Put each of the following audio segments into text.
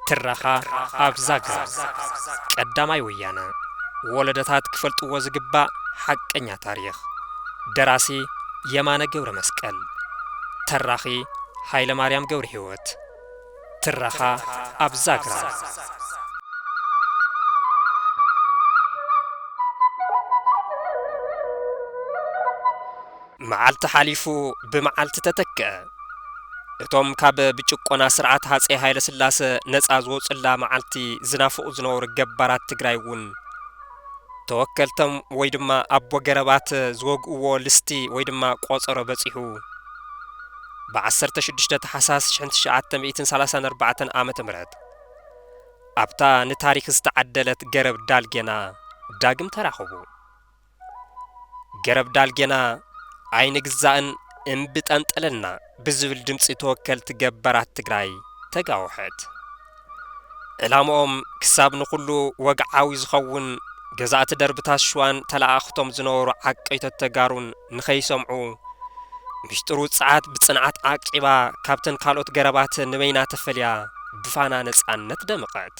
ትረኻ ኣብ ዛግራ ቀዳማይ ወያነ ወለደታት ክፈልጥዎ ዝግባእ ሓቀኛ ታሪኽ ደራሲ የማነ ገብረ መስቀል ተራኺ ሃይለ ማርያም ገብረ ህይወት ትረኻ ኣብ ዛግራ። መዓልቲ ሓሊፉ ብመዓልቲ ተተክኣ። እቶም ካብ ብጭቆና ስርዓት ሃፀይ ሃይለስላሰ ነፃ ዝወፁላ መዓልቲ ዝናፍቑ ዝነበሩ ገባራት ትግራይ እውን ተወከልቶም ወይ ድማ ኣቦ ገረባት ዝወግእዎ ልስቲ ወይ ድማ ቆፀሮ በፂሑ። ብ ዓሰርተ ሽዱሽተ ታሕሳስ ሽሕን ትሽዓተ ሚእትን ሰላሳን ኣርባዕተን ዓመተ ምህረት ኣብታ ንታሪኽ ዝተዓደለት ገረብ ዳልጌና ዳግም ተራኸቡ። ገረብ ዳልጌና ኣይንግዛእን እምቢ ጠንጠለልና ብዝብል ድምጺ ተወከልቲ ገባራት ትግራይ ተጋወሐት። ዕላምኦም ክሳብ ንኹሉ ወግዓዊ ዝኸውን ገዛእቲ ደርብታት ሽዋን ተለኣኣኽቶም ዝነበሩ ዓቀይቶት ተጋሩን ንኸይሰምዑ ሚሽጥሩ ጸዓት ብጽንዓት ዓቂባ ካብተን ካልኦት ገረባተ ንበይና ተፈልያ ብፋና ነጻነት ደመቐት።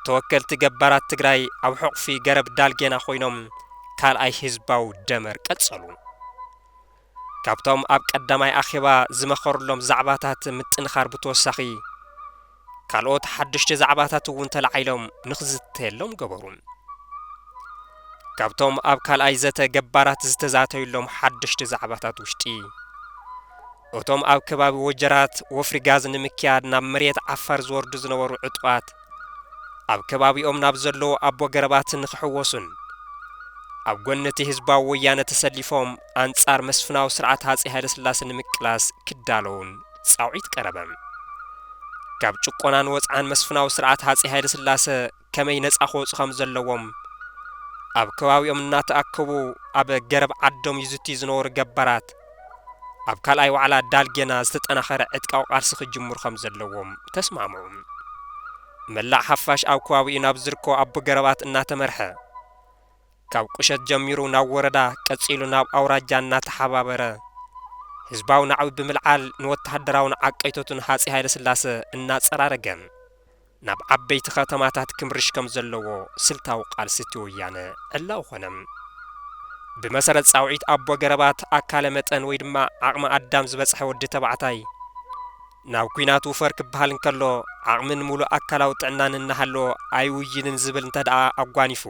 ተወከልቲ ገባራት ትግራይ ኣብ ሕቑፊ ገረብ ዳልጌና ኮይኖም ካልኣይ ህዝባዊ ደመር ቀጸሉ። ካብቶም ኣብ ቀዳማይ ኣኼባ ዝመኸርሎም ዛዕባታት ምጥንኻር ብተወሳኺ ካልኦት ሓደሽቲ ዛዕባታት እውን ተላዒሎም ንክዝተየሎም ገበሩ። ካብቶም ኣብ ካልኣይ ዘተ ገባራት ዝተዛተዩሎም ሓደሽቲ ዛዕባታት ውሽጢ እቶም ኣብ ከባቢ ወጀራት ወፍሪ ጋዝ ንምክያድ ናብ መሬት ዓፋር ዝወርዱ ዝነበሩ ዕጡቓት ኣብ ከባቢኦም ናብ ዘለዉ ኣቦ ገረባት ንክሕወሱን ኣብ ጎኒ እቲ ህዝባዊ ወያነ ተሰሊፎም ኣንጻር መስፍናዊ ስርዓት ሃጸይ ሃይለስላሰ ንምቅላስ ክዳለዉን ጻውዒት ቀረበ። ካብ ጭቆና ንወጽዓን መስፍናዊ ስርዓት ሃጸይ ሃይለስላሰ ከመይ ነጻ ክወጹ ከም ዘለዎም ኣብ ከባቢኦም እናተኣከቡ ኣብ ገረብ ዓዶም ይዝትዩ ዝነበሩ ገባራት ኣብ ካልኣይ ዋዕላ ዳልጌና ዝተጠናኸረ ዕጥቃዊ ቃልሲ ክጅምሩ ከም ዘለዎም ተስማምዑ። መላእ ሓፋሽ ኣብ ከባቢኡ ናብ ዝርከቡ ኣቦ ገረባት እናተመርሐ፣ ካብ ቁሸት ጀሚሩ ናብ ወረዳ ቀጺሉ ናብ ኣውራጃ እናተሓባበረ ህዝባዊ ናዕቢ ብምልዓል ንወተሃደራውን ዓቀይቶትን ሃጺይ ሃይለስላሰ እናጸራረገ ናብ ዓበይቲ ከተማታት ክምርሽ ከም ዘለዎ ስልታዊ ቃልሲ እቲ ወያነ ዕላዊ ኮነ። ብመሰረት ጻውዒት ኣቦ ገረባት ኣካለ መጠን ወይ ድማ ዓቕመ ኣዳም ዝበጽሐ ወዲ ተባዕታይ፣ ናብ ኲናት ውፈር ክበሃል እንከሎ፣ ዓቕምን ምሉእ ኣካላዊ ጥዕናን እናሃለዎ ኣይውይንን ዝብል እንተድኣ ኣጓኒፉ፣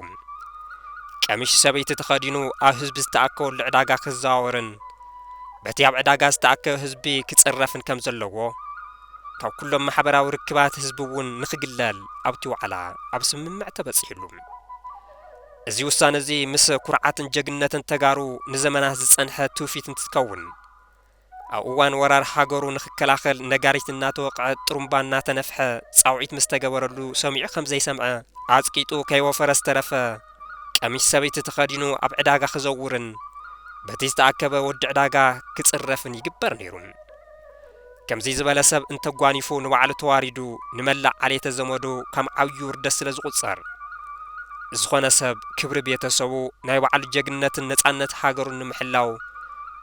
ቀሚሽ ሰበይቲ ተኸዲኑ ኣብ ህዝቢ ዝተኣከበሉ ዕዳጋ ክዘዋወርን በቲ ኣብ ዕዳጋ ዝተኣከበ ህዝቢ ክጽረፍን ከም ዘለዎ ካብ ኩሎም ማሕበራዊ ርክባት ህዝቢ እውን ንክግለል ኣብቲ ዋዕላ ኣብ ስምምዕ ተበጺሑሉ። እዚ ውሳነ እዚ ምስ ኩርዓትን ጀግንነትን ተጋሩ ንዘመናት ዝጸንሐ ትውፊት እንትትከውን፣ ኣብ እዋን ወራር ሃገሩ ንኽከላኸል ነጋሪት እናተወቕዐ ጥሩምባ እናተነፍሐ ፃውዒት ምስ ተገበረሉ ሰሚዑ ከም ዘይሰምዐ ዓፅቂጡ ከይወፈረ ዝተረፈ ቀሚሽ ሰበይቲ ተኸዲኑ ኣብ ዕዳጋ ክዘውርን በቲ ዝተኣከበ ወዲ ዕዳጋ ክፅረፍን ይግበር ነይሩ። ከምዙይ ዝበለ ሰብ እንተጓኒፉ ንባዕሉ ተዋሪዱ ንመላእ ዓሌተ ዘመዱ ከም ዓብዪ ውርደት ስለ ዝቑፀር ዝኾነ ሰብ ክብሪ ቤተሰቡ ናይ ባዕሉ ጀግንነትን ነፃነት ሃገሩን ንምሕላው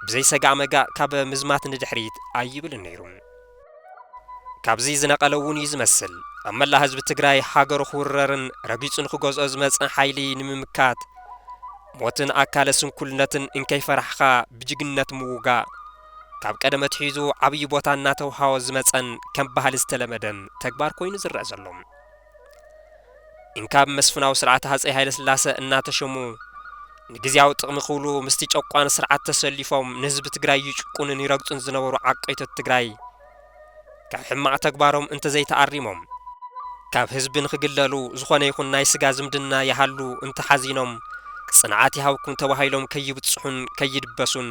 ብዘይ ሰጋእ መጋእ ካብ ምዝማት ንድሕሪት ኣይብልን ነይሩ። ካብዚ ዝነቐለ እውን እዩ ዝመስል ኣብ መላእ ህዝቢ ትግራይ ሃገሩ ክውረርን ረጊፁ ንክገዝኦ ዝመፀ ሓይሊ ንምምካት ሞትን ኣካለ ስንኩልነትን እንከይፈራሕኻ ብጅግንነት ምውጋእ ካብ ቀደም ኣትሒዙ ዓብዪ ቦታ እናተውሃቦ ዝመፀን ከም ባህሊ ዝተለመደን ተግባር ኮይኑ ዝረኣ ዘሎ። ኢንካብ መስፍናዊ ስርዓት ሃጸይ ሃይለስላሰ እናተሸሙ ንግዝያዊ ጥቕሚ ክብሉ ምስቲ ጨቋኒ ስርዓት ተሰሊፎም ንህዝቢ ትግራይ ይጭቁኑን ይረግጹን ዝነበሩ ዓቀይቶት ትግራይ ካብ ሕማቕ ተግባሮም እንተዘይተኣሪሞም ካብ ህዝቢ ንክግለሉ ዝኾነ ይኹን ናይ ስጋ ዝምድና ይሃሉ እንተሓዚኖም ጽንዓት ይሃብኩም ተባሂሎም ከይብጽሑን ከይድበሱን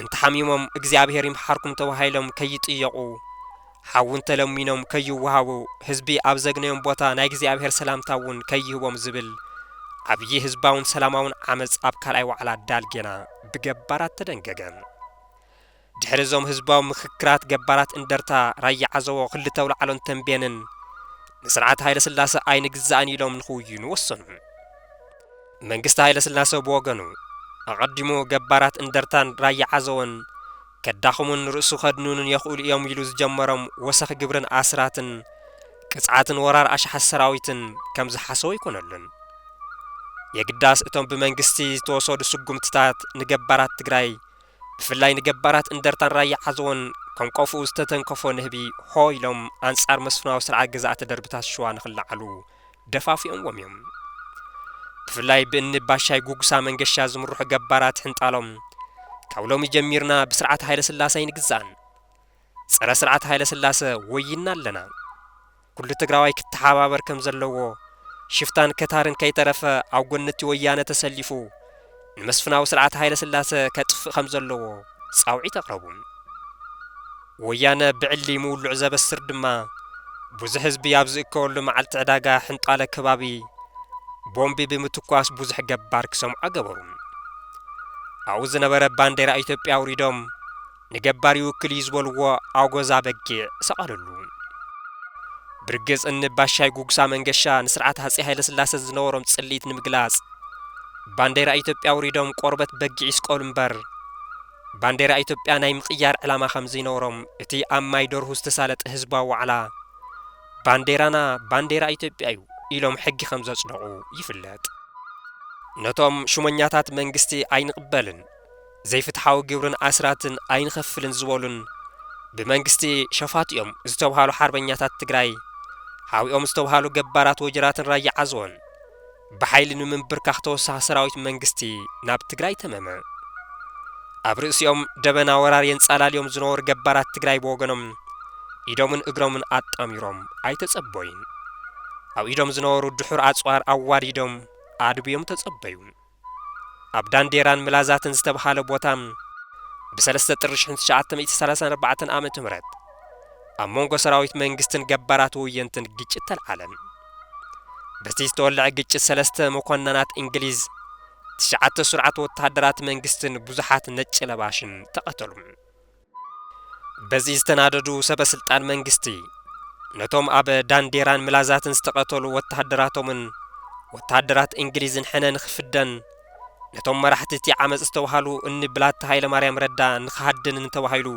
እንተሓሚሞም እግዚኣብሄር ይምሓርኩም ተባሂሎም ከይጥየቑ ሓዉ እንተለሚኖም ከይወሃቡ ህዝቢ ኣብ ዘግነዮም ቦታ ናይ እግዚኣብሔር ሰላምታ እውን ከይህቦም ዝብል ዓብዪ ህዝባውን ሰላማውን ዓመፅ ኣብ ካልኣይ ዋዕላ ዳልጌና ብገባራት ተደንገገ። ድሕሪ እዞም ህዝባዊ ምኽክራት ገባራት እንደርታ፣ ራያ ዓዘቦ፣ ክልተ ኣውላዕሎን ተምቤንን ንስርዓት ሃይለስላሰ ኣይንግዛእን ኢሎም ንኽውይኑ ወሰኑ። መንግስቲ ሃይለስላሰ ብወገኑ ኣቐዲሙ ገባራት እንደርታን ራያ ዓዘቦን ከዳኽሙን ርእሱ ከድኑንን የኽእሉ እዮም ኢሉ ዝጀመሮም ወሰኽ ግብርን ኣስራትን ቅጽዓትን ወራር ኣሽሓት ሰራዊትን ከም ዝሓሰዎ ኣይኮነሉን። የግዳስ እቶም ብመንግስቲ ዝተወሰዱ ስጉምትታት ንገባራት ትግራይ ብፍላይ ንገባራት እንደርታን ራያ ዓዘቦን ከንቆፍኡ ዝተተንከፎ ንህቢ ሆ ኢሎም ኣንጻር መስፍናዊ ስርዓት ገዛእቲ ደርብታት ሽዋ ንክለዓሉ ደፋፊኦምዎም እዮም። ብፍላይ ብእኒ ባሻይ ጉጉሳ መንገሻ ዝምርሑ ገባራት ሕንጣሎም ካብ ሎሚ ጀሚርና ብስርዓት ሃይለስላሰ ኣይንግዛእን፣ ፀረ ስርዓት ሃይለስላሰ ወዪንና ኣለና፣ ኩሉ ትግራዋይ ክተሓባበር ከምዘለዎ፣ ሽፍታን ከታርን ከይተረፈ ኣብ ጎኒ እቲ ወያነ ተሰሊፉ ንመስፍናዊ ስርዓት ሃይለስላሰ ከጥፍእ ከምዘለዎ ጻውዒት ኣቕረቡ። ወያነ ብዕሊ ምውልዑ ዘበስር ድማ ብዙሕ ህዝቢ ኣብ ዝእከበሉ መዓልቲ ዕዳጋ ሕንጣለ ከባቢ ቦምቢ ብምትኳስ ብዙሕ ገባር ክሰምዖ ገበሩ። ኣብኡ ዝነበረ ባንዴራ ኢትዮጵያ ኣውሪዶም ንገባር ይውክል እዩ ዝበልዎ ኣጎዛ በጊዕ ሰቐልሉ። ብርግጽ እኒ ባሻይ ጉግሳ መንገሻ ንስርዓት ሃጼ ሃይለስላሰ ዝነበሮም ጽልኢት ንምግላጽ ባንዴራ ኢትዮጵያ ኣውሪዶም ቆርበት በጊዕ ይስቀሉ እምበር ባንዴራ ኢትዮጵያ ናይ ምቕያር ዕላማ ከምዘይነበሮም እቲ ኣብ ማይ ደርሁ ዝተሳለጠ ህዝባዊ ዋዕላ ባንዴራና ባንዴራ ኢትዮጵያ እዩ ኢሎም ሕጊ ከምዘጽደቑ ይፍለጥ። ነቶም ሹመኛታት መንግስቲ ኣይንቕበልን! ዘይፍትሓዊ ግብርን ኣስራትን ኣይንኸፍልን ዝበሉን ብመንግስቲ ሸፋቱ'ዮም ዝተብሃሉ ሓርበኛታት ትግራይ ሓዊኦም ዝተብሃሉ ገባራት ወጀራትን ራያ ዓዘቦን ብሓይሊ ንምምብርካኽ ተወሳኺ ሰራዊት መንግስቲ ናብ ትግራይ ተመመ። ኣብ ርእሲኦም ደበና ወራር የንጻላልዮም ዝነበሩ ገባራት ትግራይ ብወገኖም ኢዶምን እግሮምን ኣጣሚሮም ኣይተጸበዩን። ኣብ ኢዶም ዝነበሩ ድሑር ኣጽዋር ኣዋዲዶም ኣድብዮም ተጸበዩ። ኣብ ዳንዴራን ምላዛትን ዝተብሃለ ቦታ ብ ሰለስተ ጥሪ ሽሕን ትሽዓተ ሚእቲ ሰላሳን ኣርባዕተን ኣመተ ምህረት ኣብ መንጎ ሰራዊት መንግስትን ገባራት ወየንትን ግጭት ተልዓለ። በቲ ዝተወለዐ ግጭት ሰለስተ መኮናናት እንግሊዝ፣ ትሽዓተ ሱርዓት ወተሃደራት መንግስትን ብዙሓት ነጭ ለባሽን ተቐተሉ። በዚ ዝተናደዱ ሰበ ስልጣን መንግስቲ፣ ነቶም ኣብ ዳንዴራን ምላዛትን ዝተቐተሉ ወተሃደራቶምን ወተሃደራት እንግሊዝን ሕነ ንኽፍደን፣ ነቶም መራሕቲ እቲ ዓመጽ ዝተባሃሉ እኒ ብላታ ሃይለማርያም ረዳ ንኽሃድንን ተባሂሉ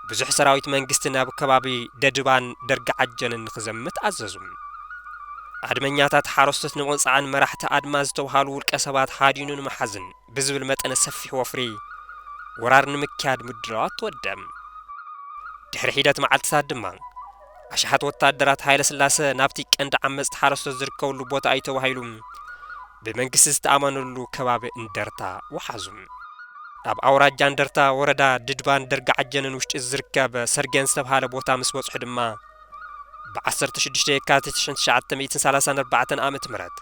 ብዙሕ ሰራዊት መንግስቲ ናብ ከባቢ ደድባን ደርጋዓጀንን ንኽዘምት ኣዘዙ። ኣድመኛታት ሓረስቶት ንምቕጻዕን መራሕቲ ኣድማ ዝተባሃሉ ውልቀ ሰባት ሃዲኑ ንምሓዝን፣ ብዝብል መጠነ ሰፊሕ ወፍሪ ወራር ንምክያድ ምድላዋት ተወደብ። ድሕሪ ሒደት መዓልትታት ድማ፣ ኣሽሓት ወታደራት ሃይለስላሰ ናብቲ ቀንዲ ዓመጽቲ ሓረስቶት ዝርከብሉ ቦታ እዩ ተባሂሉ ብመንግስቲ ዝተኣመነሉ ከባቢ እንደርታ ወሓዙ። ኣብ ኣውራጃ እንደርታ ወረዳ ድድባን ደርጋዓጀንን ውሽጢ ዝርከብ ሰርጌን ዝተብሃለ ቦታ ምስ በጽሑ ድማ፣ ብዓሰርተ ሽዱሽተ የካቲት ሽሕን ትሽዓተ ሚእትን ሰላሳን ኣርባዕተን ዓመተ ምህረት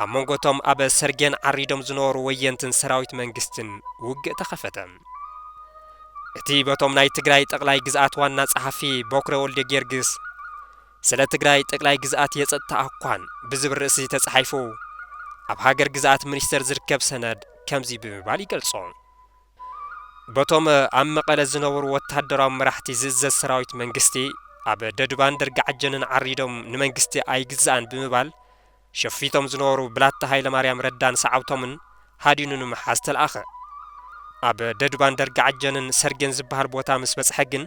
ኣብ መንጎ እቶም ኣብ ሰርጌን ዓሪዶም ዝነበሩ ወየንትን ሰራዊት መንግስትን ውግእ ተኸፈተ። እቲ በቶም ናይ ትግራይ ጠቕላይ ግዝኣት ዋና ጸሓፊ ቦክረ ወልደጊዮርጊስ ስለ ትግራይ ጠቅላይ ግዝኣት የጸጥታ ኣኳን ብዝብል ርእሲ ተጻሒፉ ኣብ ሃገር ግዝኣት ሚኒስተር ዝርከብ ሰነድ ከምዚ ብምባል ይገልጾ። በቶም ኣብ መቐለ ዝነበሩ ወተሃደራዊ መራሕቲ ዝእዘዝ ሰራዊት መንግስቲ ኣብ ደዱባን ደርጋዓጀንን ዓሪዶም ንመንግስቲ ኣይግዛእን ብምባል ሸፊቶም ዝነበሩ ብላታ ሃይለማርያም ረዳን ሰዓብቶምን ሃዲኑ ንምሓዝ ተልኣኸ። ኣብ ደዱባን ደርጋዓጀንን ሰርጌን ዝበሃል ቦታ ምስ በጽሐ ግን፣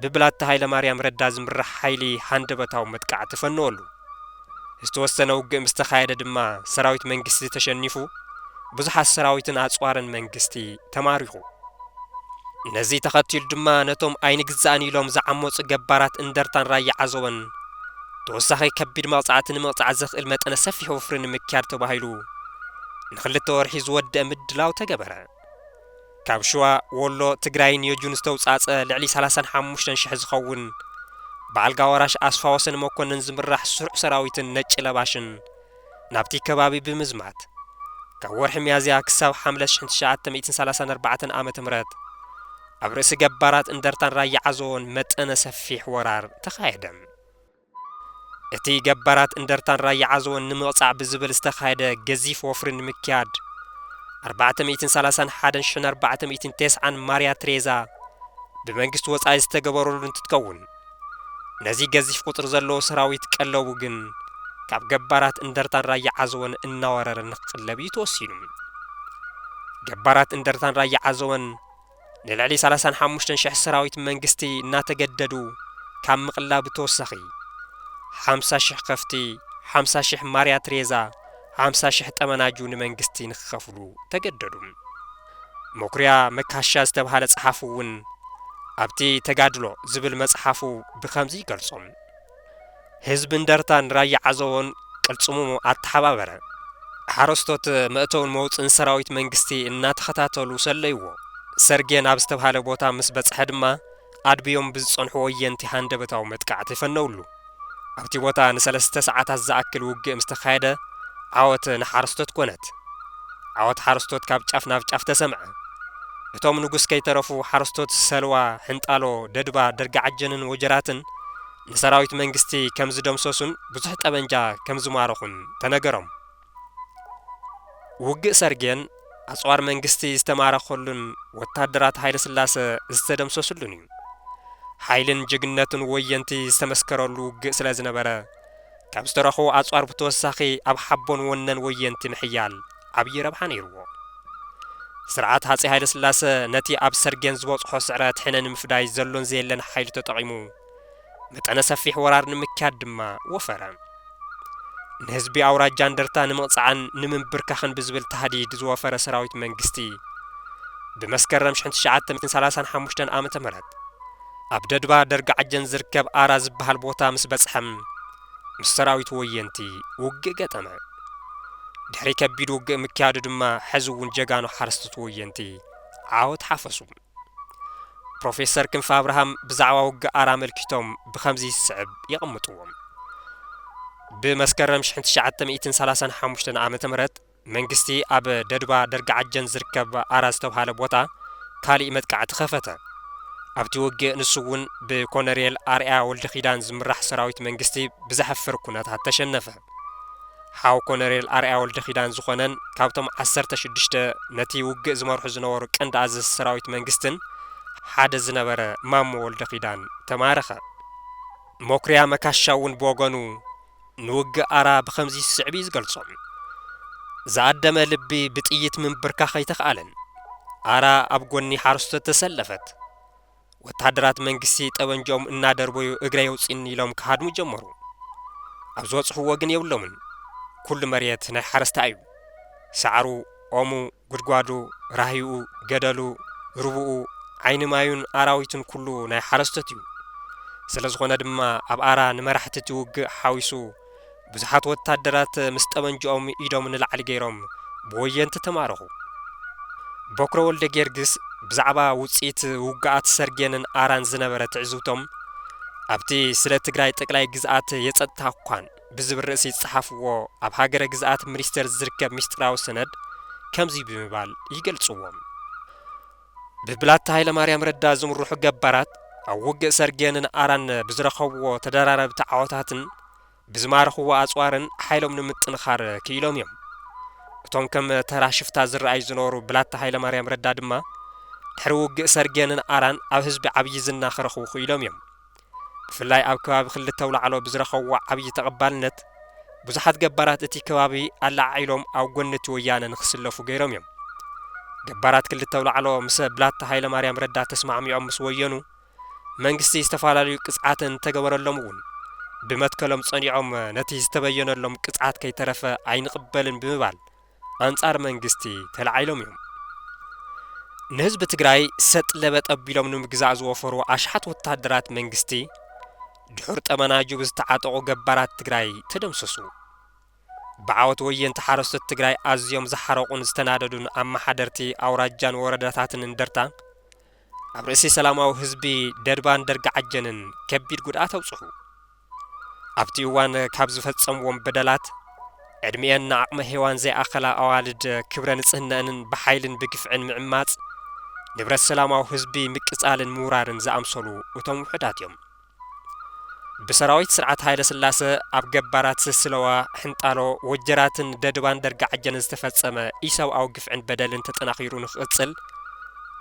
ብብላታ ሃይለማርያም ረዳ ዝምራሕ ሓይሊ ሃንደበታዊ መጥቃዕቲ ተፈነወሉ። ዝተወሰነ ውግእ ምስ ተኻየደ ድማ ሰራዊት መንግስቲ ተሸኒፉ፣ ብዙሓት ሰራዊትን ኣጽዋርን መንግስቲ ተማሪኹ። ነዚ ተኸቲሉ ድማ ነቶም ኣይንግዛእን ኢሎም ዝዓመጹ ገባራት እንደርታን ራያ ዓዘቦን ተወሳኺ ከቢድ መቕጻዕቲ ንምቕጻዕ ዘኽእል መጠነ ሰፊሕ ወፍሪ ንምክያድ ተባሂሉ ንኽልተ ወርሒ ዝወደእ ምድላው ተገበረ። ካብ ሽዋ፣ ወሎ፣ ትግራይን የጁን ዝተውፃእፀ ልዕሊ ሰላሳን ሓሙሽተን ሽሕ ዝኸውን ብኣልጋ ወራሽ ኣስፋወሰን መኮነን ዝምራሕ ስሩዕ ሰራዊትን ነጭ ለባሽን ናብቲ ከባቢ ብምዝማት ካብ ወርሒ ሚያዝያ ክሳብ ሓምለ ሽሕን ትሽዓተ ሚእትን ሰላሳን ኣርባዕተን ዓመተ ምህረት ኣብ ርእሲ ገባራት እንደርታን ራያ ዓዘቦን መጠነ ሰፊሕ ወራር ተኻየደ። እቲ ገባራት እንደርታን ራያ ዓዘቦን ንምቕጻዕ ብዝብል ዝተኻየደ ገዚፍ ወፍሪ ንምክያድ፣ ኣርባዕተ ሚእትን ሰላሳን ሓደን ሽሕን ኣርባዕተ ሚእትን ቴስዓን ማርያ ትሬዛ ብመንግስቲ ወጻኢ ዝተገበረሉ እንትትከውን፣ ነዚ ገዚፍ ቁጽሪ ዘለዎ ሰራዊት ቀለቡ ግን ካብ ገባራት እንደርታን ራያ ዓዘቦን እናወረረ ንክቅለብ እዩ ተወሲኑ። ገባራት እንደርታን ራያ ዓዘቦን፣ ንልዕሊ ሰላሳን ሓሙሽተን ሽሕ ሰራዊት መንግስቲ እናተገደዱ ካብ ምቕላብ ብተወሳኺ፣ ሓምሳ ሽሕ ከፍቲ፣ ሓምሳ ሽሕ ማርያ ትሬዛ፣ ሓምሳ ሽሕ ጠመናጁ ንመንግስቲ ንክኸፍሉ ተገደዱ። መኩሪያ መካሻ ዝተብሃለ ጸሓፊ'ውን ኣብቲ ተጋድሎ ዝብል መጽሓፉ ብኸምዚ ይገልጾ። ህዝቢ እንደርታን ራያ ዓዘቦን ቅልፅሙ ኣተሓባበረ። ሓረስቶት መእተውን መውፅእን ሰራዊት መንግስቲ እናተኸታተሉ ሰለይዎ። ሰርጌን ኣብ ዝተብሃለ ቦታ ምስ በፅሐ ድማ ኣድብዮም ብዝፀንሑ ወየንቲ ሃንደበታዊ መጥቃዕቲ ፈነውሉ። ኣብቲ ቦታ ንሰለስተ ሰዓታት ዝኣክል ውግእ ምስ ተኻየደ ዓወት ንሓረስቶት ኮነት። ዓወት ሓረስቶት ካብ ጫፍ ናብ ጫፍ ተሰምዐ። እቶም ንጉስ ከይተረፉ ሓረስቶት ሰልዋ፣ ሕንጣሎ፣ ደድባ፣ ደርጋዓጀንን ወጀራትን ንሰራዊት መንግስቲ ከም ዝደምሰሱን ብዙሕ ጠበንጃ ከም ዝማረኹን ተነገሮም። ውግእ ሰርጌን ኣጽዋር መንግስቲ ዝተማረኸሉን ወታደራት ሃይለስላሰ ዝተደምሰስሉን እዩ። ሓይልን ጅግንነትን ወየንቲ ዝተመስከረሉ ውግእ ስለ ዝነበረ፣ ካብ ዝተረኽቡ ኣጽዋር ብተወሳኺ ኣብ ሓቦን ወነን ወየንቲ ምሕያል ዓብዪ ረብሓ ነይርዎ። ስርዓት ሃጸይ ሃይለስላሰ ነቲ ኣብ ሰርጌን ዝበጽሖ ስዕረት ሕነ ንምፍዳይ ዘሎን ዘየለን ሓይሉ ተጠቒሙ መጠነ ሰፊሕ ወራር ንምክያድ ድማ ወፈረ። ንህዝቢ ኣውራጃ እንደርታ ንምቕጻዕን ንምምብርካኽን ብዝብል ታህዲድ ዝወፈረ ሰራዊት መንግስቲ ብመስከረም ሽሕን ትሽዓተ ሚእትን ሰላሳን ሓሙሽተን ዓመተ ምህረት ኣብ ደድባ ደርጋዓጀን ዝርከብ ኣራ ዝበሃል ቦታ ምስ በጽሐ፣ ምስ ሰራዊት ወየንቲ ውግእ ገጠመ። ድሕሪ ከቢድ ውግእ ምክያዱ ድማ ሕዚ እውን ጀጋኑ ሓረስቶት ወየንቲ ዓወት ሓፈሱ። ፕሮፌሰር ክንፈ ኣብርሃም ብዛዕባ ውግእ ኣራ ኣመልኪቶም ብኸምዚ ዝስዕብ የቐምጥዎ። ብመስከረም ሽሕን ትሽዓተ ሚእትን ሰላሳን ሓሙሽተን ዓመተ ምህረት፣ መንግስቲ ኣብ ደዱባ ደርጋዓጀን ዝርከብ ኣራ ዝተብሃለ ቦታ ካሊእ መጥቃዕቲ ከፈተ። ኣብቲ ውግእ ንሱ እውን ብኮነሬል ኣርኣያ ወልደኪዳን ዝምራሕ ሰራዊት መንግስቲ ብዘሕፍር ኩነታት ተሸነፈ። ሓው ኮነሬል ኣርኣያ ወልደኪዳን ዝኾነን ካብቶም ዓሰርተ ሽዱሽተ ነቲ ውግእ ዝመርሑ ዝነበሩ ቀንዲ ኣዘዝቲ ሰራዊት መንግስትን ሓደ ዝነበረ ማሞ ወልደኪዳን ተማረኸ። መኩሪያ መካሻ እውን ብወገኑ ንውግእ ኣራ ብኸምዚ ዝስዕብ እዩ ዝገልጾ፣ ዝኣደመ ልቢ ብጥይት ምንብርካኽ ኣይተኽኣለን። ኣራ ኣብ ጎኒ ሓረስቶት ተሰለፈት። ወተሃደራት መንግስቲ ጠበንጅኦም እናደርበዩ እግረይ ኣውጽእኒ ኢሎም ክሃድሙ ጀመሩ። ኣብ ዝበጽሕዎ ግን የብሎምን። ኩሉ መሬት ናይ ሓረስታይ እዩ። ሳዕሩ፣ ኦሙ፣ ጉድጓዱ፣ ራህይኡ፣ ገደሉ፣ ሩቡኡ፣ ዓይኒ ማዩን ኣራዊቱን ኩሉ ናይ ሓረስቶት እዩ። ስለዝኾነ ድማ ኣብ ኣራ ንመራሕቲ እቲ ውግእ ሓዊሱ ብዙሓት ወታደራት ምስ ጠበንጅኦም ኢዶም ንላዕሊ ገይሮም ብወየንቲ ተማረኹ። ቦክረ ወልደጊዮርጊስ ብዛዕባ ውጽኢት ውግኣት ሰርጌንን ኣራን ዝነበረ ትዕዝብቶም ኣብቲ ስለ ትግራይ ጠቅላይ ግዝኣት የጸጥታ እኳን። ብዝብል ርእሲ ዝጸሓፍዎ ኣብ ሃገረ ግዝኣት ምኒስተር ዝርከብ ምስጢራዊ ሰነድ ከምዚ ብምባል ይገልጽዎ። ብብላታ ሃይለማርያም ረዳ ዝምርሑ ገባራት ኣብ ውግእ ሰርጌንን ኣራን ብዝረኸብዎ ተደራረብቲ ዓወታትን ብዝማረኽዎ ኣጽዋርን ሓይሎም ንምጥንኻር ክኢሎም እዮም። እቶም ከም ተራ ሽፍታ ዝረኣዩ ዝነበሩ ብላታ ሃይለማርያም ረዳ ድማ ድሕሪ ውግእ ሰርጌንን ኣራን ኣብ ህዝቢ ዓብዪ ዝና ክረኽቡ ክኢሎም እዮም። ብፍላይ ኣብ ከባቢ ክልተ ኣውላዕሎ ብዝረኸብዎ ዓብዪ ተቐባልነት ብዙሓት ገባራት እቲ ከባቢ ኣለዓዒሎም ኣብ ጎኒ እቲ ወያነ ንክስለፉ ገይሮም እዮም። ገባራት ክልተ ኣውላዕሎ ምሰ ብላታ ሃይለማርያም ረዳ ተስማዕሚዖም ምስ ወየኑ መንግስቲ ዝተፈላለዩ ቅፅዓት እንተገበረሎም እውን ብመትከሎም ፀኒዖም ነቲ ዝተበየነሎም ቅፅዓት ከይተረፈ ኣይንቕበልን ብምባል ኣንፃር መንግስቲ ተላዒሎም እዮም። ንህዝቢ ትግራይ ሰጥ ለበጥ ኣቢሎም ንምግዛእ ዝወፈሩ ኣሽሓት ወታደራት መንግስቲ ድሑር ጠመናጁ ብዝተዓጠቑ ገባራት ትግራይ ተደምሰሱ። ብዓወት ወየንቲ ሓረስቶት ትግራይ ኣዝዮም ዝሓረቑን ዝተናደዱን ኣመሓደርቲ ኣውራጃን ወረዳታትን እንደርታ ኣብ ርእሲ ሰላማዊ ህዝቢ ደድባን ደርጋዓጀንን ከቢድ ጉድኣት ኣብፅሑ። ኣብቲ እዋን ካብ ዝፈጸምዎም በደላት፣ ዕድሚኤን ንዓቕመ ሄዋን ዘይኣኸላ ኣዋልድ ክብረ ንጽህነእንን ብሓይልን ብግፍዕን ምዕማጽ፣ ንብረት ሰላማዊ ህዝቢ ምቅጻልን ምውራርን ዝኣምሰሉ እቶም ውሑዳት እዮም። ብሰራዊት ስርዓት ሃይለስላሰ ኣብ ገባራት ስስለዋ፣ ሕንጣሎ፣ ወጀራትን ደድባን ደርጋዓጀንን ዝተፈጸመ ኢሰብኣዊ ግፍዕን በደልን ተጠናኺሩ ንክቕጽል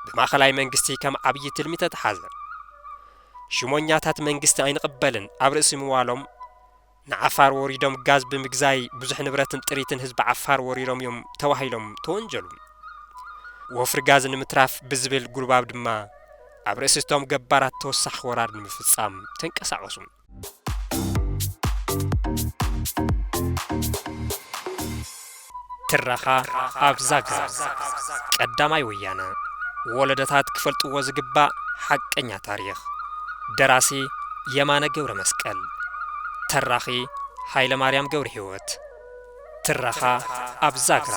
ብማእኸላይ መንግስቲ ከም ዓብዪ ትልሚ ተተሓዘ። ሽሞኛታት መንግስቲ ኣይንቕበልን ኣብ ርእሲ ምባሎም ንዓፋር ወሪዶም ጋዝ ብምግዛይ ብዙሕ ንብረትን ጥሪትን ህዝቢ ዓፋር ወሪሮም እዮም ተባሂሎም ተወንጀሉ። ወፍሪ ጋዝ ንምትራፍ ብዝብል ጉልባብ ድማ ኣብ ርእሲ እቶም ገባራት ተወሳኺ ወራር ንምፍፃም ተንቀሳቐሱ። ትረኻ ኣብ ዛግራ ቀዳማይ ወያነ ወለዶታት ክፈልጥዎ ዝግባእ ሓቀኛ ታሪኽ ደራሲ የማነ ገብረመስቀል ተራኺ ሃይለማርያም ገብረሂወት ትረኻ ኣብ ዛግራ